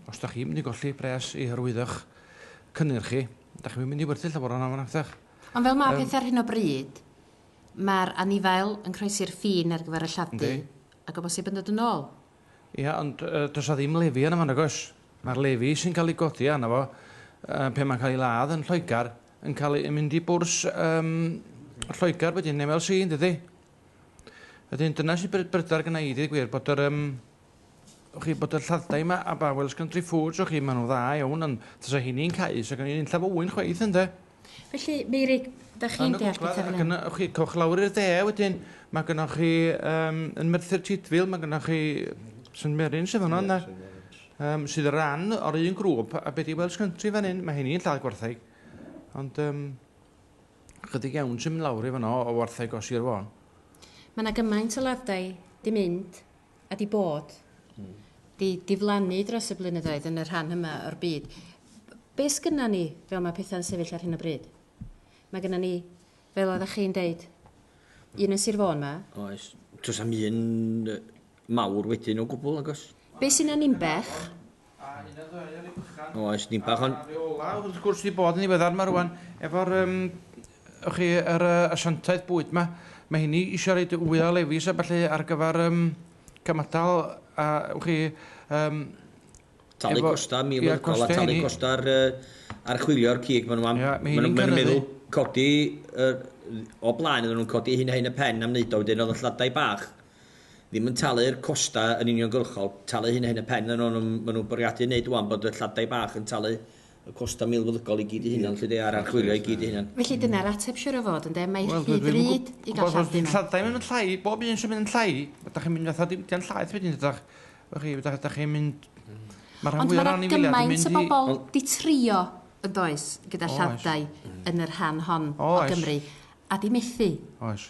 Os da chi'n mynd i golli pres i hyrwyddo'ch cynnyrch chi, da chi'm yn mynd i werthu llawer o honna nacdach? Ond fel mae pethau ar hyn o bryd, mae'r anifail yn croesi'r ffin ar gyfer y lladd-dy, ac o bosib yn dod yn ôl. Ia, ond does na ddim lefi arno fo nag oes? Mae'r lefi sy'n cael ei godi arno fo pan mae'n cael ei ladd yn Lloegr yn cael ei mynd i bwrs Lloegr wedyn, MLC, yn dydy? Wedyn dyna sy'n brydferth gynna i, deud y gwir, bod yr... o chi bod y lladdau yma a ba Welsh Country Foods o chi, maen nhw'n dda iawn, ond tasa hyn i'n cael, sef gen i'n unllaf yw'n chweith ynddo. Felly, Meirig, da chi'n deall beth ydyn nhw? Ac chi coch lawr i'r de wedyn, mae gynnwch chi um, yn Merthyr Tydfil, mae gynnwch chi St Merin sydd yno, yna, um, sydd ran o'r un grŵp, a beth i Welsh Country fan hyn, mae hyn i'n lladd gwartheg. Ond um, chydig iawn sy'n mynd lawr i fanno o wartheg o Sir Fôn. Mae yna gymaint o ladau di mynd a 'di bod, 'di diflannu dros y blynyddoedd yn y rhan yma o'r byd. Be sgynna ni fel mae pethau'n sefyll ar hyn o bryd? Mae gynna ni, fel oeddech chi'n deud, un yn Sir Fôn ma. Oes. Does am un mawr wedyn o gwbl, agos? Be sy'n Aninbech? Oes, ni bach ond... Reolau, wrth gwrs, wedi bod yn ddiweddar yma rwan, efo'r yym, ych chi, yr yy, asiantaeth bwyd yma. Mae hynny eisiau rhaid fwy o lefis a ballu ar gyfer yym, cymadal a, ych chi, yym... Talu costau milwrgol a talu costau'r archwilio'r cig maen nhw am. Maen nhw'n meddwl codi, o blaen oedden nhw'n codi hyn a hyn y pen am wneud o, wedyn oedd y lladau bach ddim yn talu'r costau yn uniongyrchol, talu hyn a hyn y pen, ond maen nhw'n bwriadu wneud wan bod y lladau bach yn talu y costau milfeddygol i gyd i hunan, lly de, a'r archwilio i gyd i hunan. Felly dyna'r ateb siwr o fod, ynde? Mae rhy ddrud i gael lladd dim ond. Lladau yn mynd yn llai, bob un sy'n mynd yn llai, da chi'n mynd fatha diwydiant llaeth wedyn, ydach? Chi, da chi'n mynd... Mae'r rhan fwyaf o'r anifeiliaid yn mynd i... Ond mae gymaint o bobl di trio, yn does, gyda lladau yn y rhan hon o Gymru, a di methu. Oes.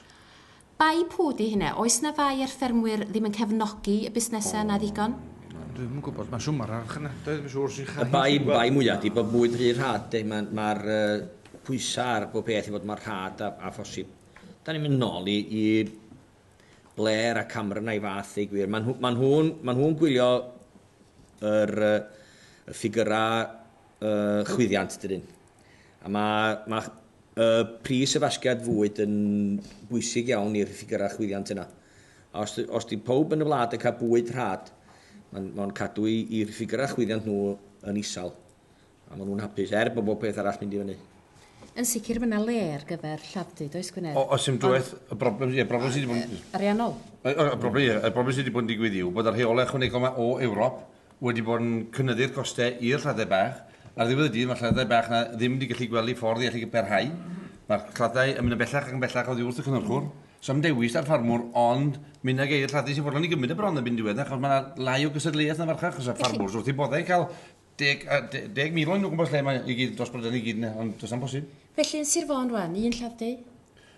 Bai pw di hynna? Oes na fai ar ffermwyr ddim yn cefnogi y busnesau yna ddigon? Dwi'm yn gwybod, mae siwmar archynadau dwi'n siŵr sy'n chau chi'n gwybod. Y bai mwyaf ydy bod bwyd rhy rhad de, mae'r pwysau ar bob peth i fod mor rhad â phosib. Dan ni'n mynd nol i Blair a Cameron a'i fath ddeu gwir. Mae nhw'n gwylio yr ffigyrau chwyddiant dydyn? A mae Y pris y fasgiad fwyd yn bwysig iawn i'r ffigyrau chwyddiant yna. A os, os di pawb yn y wlad yn cael bwyd rhad, mae'n ma cadw i'r ffigyrau chwyddiant nhw yn isal. A maen nhw'n hapus, er bod bob peth arall mynd i fyny. Yn sicr mae yna le ar gyfer lladd-dy, does Gwynedd? O, oes dim dwywaith. Y broblem, ie, broblem sydd wedi bod yn... Ariannol. Y broblem, ie, y broblem sydd wedi bod yn digwydd yw bod y rheolau ychwanegol yma o Ewrop wedi bod yn cynyddu'r costau i'r lladd-dai bach. Ar ddiwedd y dydd, mae'r lladd-dai bach yna ddim wedi gallu gweld eu ffordd i allu parhau. Mae'r lladd-dai yn mynd yn bellach ac yn bellach oddi wrth y cynhyrchwr. Sa'm dewis 'da'r ffarmwr ond mynd ag e i'r lladd-dai sy'n fodlon i gymryd e bron erbyn diwedd e, achos mae yna lai o gystadleuaeth yn y farchnad, achos y ffarmwrs wrth eu boddau i cael deg, deg mil o'n nhw gwmpas lle, mae i gyd dros bryder i gyd yna, ond does na'm posib. Felly yn Sir Fôn rwan, un lladd-dai?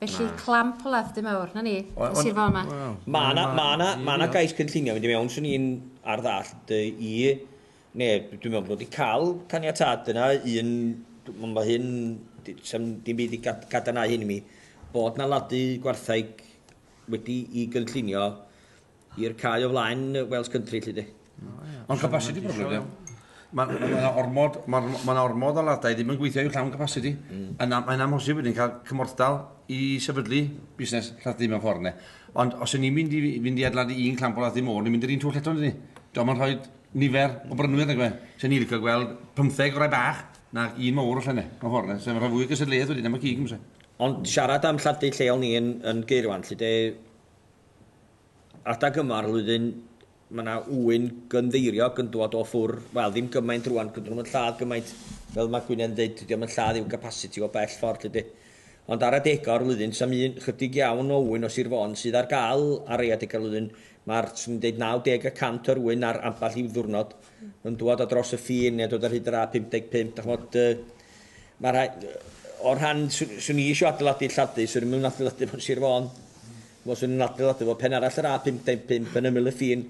Felly, clamp o ladd du mawr. 'Na ni. Ond, Sir Fôn 'ma. Wel, Ma' 'na, ma' 'na, ma' 'na gais cynllunio mynd i mewn, swn i'n ar ddall dy i, ne, dwi'n meddwl bod nhw wedi cael caniatâd yna, un, ond mae hyn, d- sa'm dim byd i gad- gadarnhau hyn i mi, bod 'na ladd-du gwartheg wedi'i gynllunio, i'r cae o flaen Wales Country, lly di. Ond capasiti problem, ia. Mae yna ormod, ma, ma ormod o ladau ddim yn gweithio i'w llawn capasiti. Mm. Yna, mae'n amhosib wedyn cael cymorthdal i sefydlu busnes lladd ddim yn ffordd ne. Ond os y'n ni'n mynd i fynd i adladu un clamp o lladd ddim o'r, ni'n mynd i'r un twll eto, ni. Dwi'n mynd rhoi nifer o brynwyr, nag Sa'n ni'n licio gweld 15 o rai bach, na un mawr o llenne, mewn ffordd, ne. Sa'n rhoi fwy gysylltiaeth wedyn, am y cig, Ond siarad am lladd lleol ni yn, yn geirwan, lle de, Adeg yma o'r flwyddyn mae yna ŵyn gynddeiriog yn dod o ffwr, wel ddim gymaint rwan, dydyn nhw'm yn lladd gymaint fel mae Gwynedd yn deud, dydi o'm yn lladd i'w capasiti o bell ffordd 'lly 'di. Ond ar adega o'r flwyddyn 'sa'm un, chydig iawn o ŵyn o Sir Fôn sydd ar gael ar rei adega o'r flwyddyn, ma'r 'swn i'n deud 90 y cant o'r ŵyn ar ambell i'w ddiwrnod yn dŵad o dros y ffin neu yn dod ar hyd yr A55 dach ch'mod yy Mae rhai, o'r rhan, swn i eisiau adeiladu Lladdu, swn i'm yn adeiladu fo'n Sir Fôn. Wel, swn i'n adeiladu fo pen arall yr A55 yn ymyl y ffin.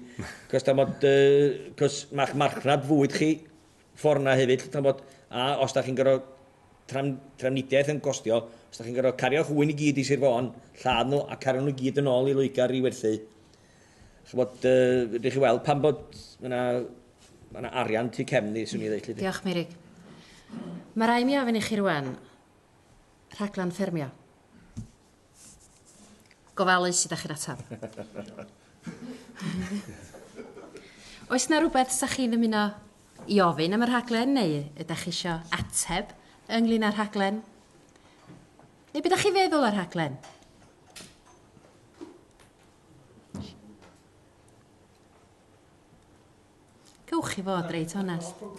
Cos da bod, cos mae'ch marchnad fwyd chi ffordd na hefyd, lle da bod, a os da chi'n gorfod tram, trafnidiaeth yn gostio, os da chi'n gorfod cario'ch ŵyn i gyd i Sir Fôn, lladd nhw a cario nhw gyd yn ôl i Loegr i werthu, Ch'mod, yy, fedrwch chi weld pan bod ma' 'na ma' 'na arian tu cefn ni, swn i'n ddeud 'lly. Diolch, Meirig. Mae rai' mi ofyn i chi rwan, rhaglen ffermio. Gofalu sut 'da chi'n atab. Oes 'na rwbeth 'sa chi'n ymuno i ofyn am y rhaglen neu ydach chi isio ateb ynglyn â'r rhaglen? Neu be' 'da chi'n feddwl o'r rhaglen? Cewch chi fod reit onest.